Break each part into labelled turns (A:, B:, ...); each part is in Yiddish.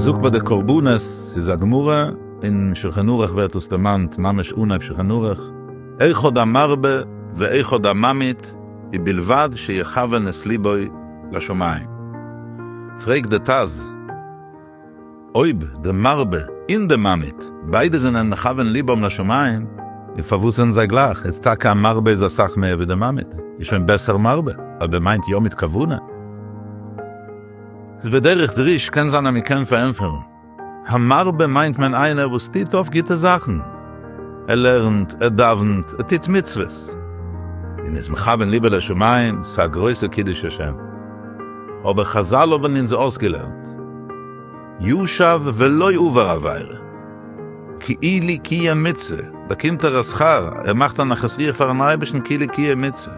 A: זאגט ביי די קרבנות ס'איז א גמרא אין שלחן ערוך ווערט דאס דערמאנט ממש אנהייב שלחן ערוך, אחד המרבה ואחד הממעיט ובלבד שיכוון את ליבו לשמים, פרעגט די טז. אויב די מרבה אין די ממעיט ביידע זענען מכוון ליבם לשמים. און פארוואס זענען זיי גלייך? איז טאקע א מרבה איז אסאך מער ווי די ממעיט איז שוין בעסער מרבה אויב ער מיינט יא מיט כוונה. איז בדרך דריש קען זיין אז מען קען פארענטפערן, המרבה מיינט מען איינער וואס טוט אויף גוטע זאכן, ער לערנט, ער דאווענט, ער טוט מצוות, און איז מכוון ליבו לשמים, ס'איז א גרויסע קידוש השם. אבער חזל האבן אונז אויסגעלערנט, ישב ולא עבר עבירה, כאילו קיים מצוה, באקומט ער א שכר, ער מאכט א נחת רוח פארן אייבערשטן כאילו קיים מצוה,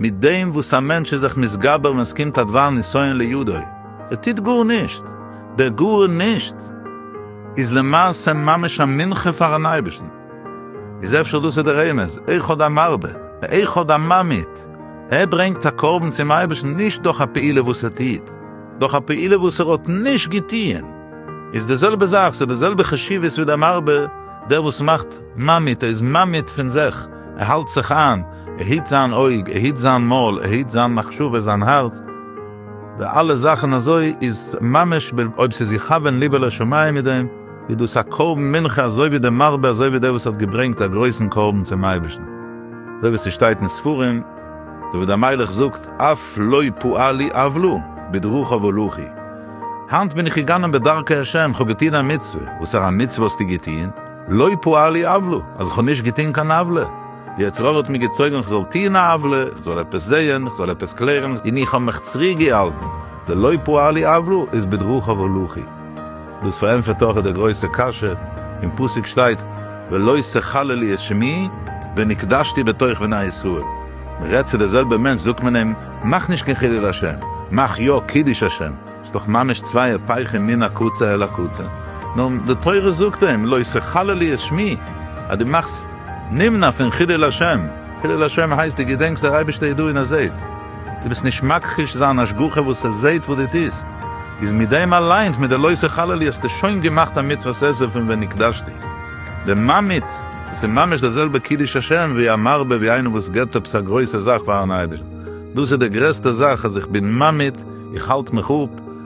A: מיט דעם וואס א מענטש איז זיך מתגבר ווען עס קומט א דבר נסיון לידו, ער טוט גארנישט, דער גארנישט איז למעשה ממש א מנחה פארן אייבערשטן. איז אפשר דאס איז די רמז, אחד המרבה ואחד הממעיט, ער ברענגט א קרבן צום אייבערשטן נישט דורך א פעולה וואס ער טוט, דורך א פעולה וואס ער האט נישט געטוען, איז די זעלבע זאך, ס'איז די זעלבע חשיבות ווי דער מרבה, דער וואס מאכט ממעיט, ער איז ממעיט פון זיך, ער האלט זיך איין, ער היט זיין אויג, ער היט זיין מויל, ער היט זיין מחשבה, זיין הארץ, די אלע זאכן אזוי, איז ממש, אויב ס'איז יכוון ליבו לשמים מיט דעם. איז דאס א קרבן מנחה אזוי ווי דער מרבה אזוי ווי דער וואס האט געברענגט א גרויסן קרבן צום אייבערשטן, אזוי ווי ס'שטייט אין ספרים, דוד המלך זאגט, אף לא פאלי עוולה, בדרכיו הלכי, היינט בין איך געגאנען בדרכי השם, כ'האב געטון א מצוה, וואסארא מצוה האסטו געטון? לא פאלי עוולה, אז כ'האב נישט געטון קיין עוולה, די יצר הרע האט מיר געצויגן כ'זאל טון א עוולה, כ'זאל עפעס זעהן, כ'זאל עפעס קלערן, און איך האב מיך צוריק געהאלטן, די לא פאלי עוולה איז בדרכיו הלכי. דאס פארענטפערט אויך די גרויסע קשיא, אין פסוק שטייט ולא תחללי את שמי ונקדשתי בתוך בני ישראל, מען רעדט צו די זעלבע מענטש זאגט מען אים מאך נישט קיין חילול השם, מאך יא קידוש השם, ס'איז דאך ממש צוויי היפכים מן הקצה אל הקצה, נאר די תורה זאגט אים לא תחללי את שמי, אז דו מאכסט נמנע פון חילול השם, חילול השם הייסט דו געדענקסט דער אייבערשטער ידו אין הזית. דו ביסט נישט מכחיש זיין השגחה וואס ער זעהט וואס דו טוסט, איז מיט דעם אליינס מיט די לוי'סע חללי האסטו שוין געמאכט א מצוות עשה פון ונקדשתי דממית, דאס איז ממש די זעלבע קידוש השם ווי א מרבה ווי איינער וואס געבט עפעס א גרויסע זאך פארן אייבערשטן, דאס איז די גרעסטע זאך אז איך בין ממית, איך האלט מיך אפ.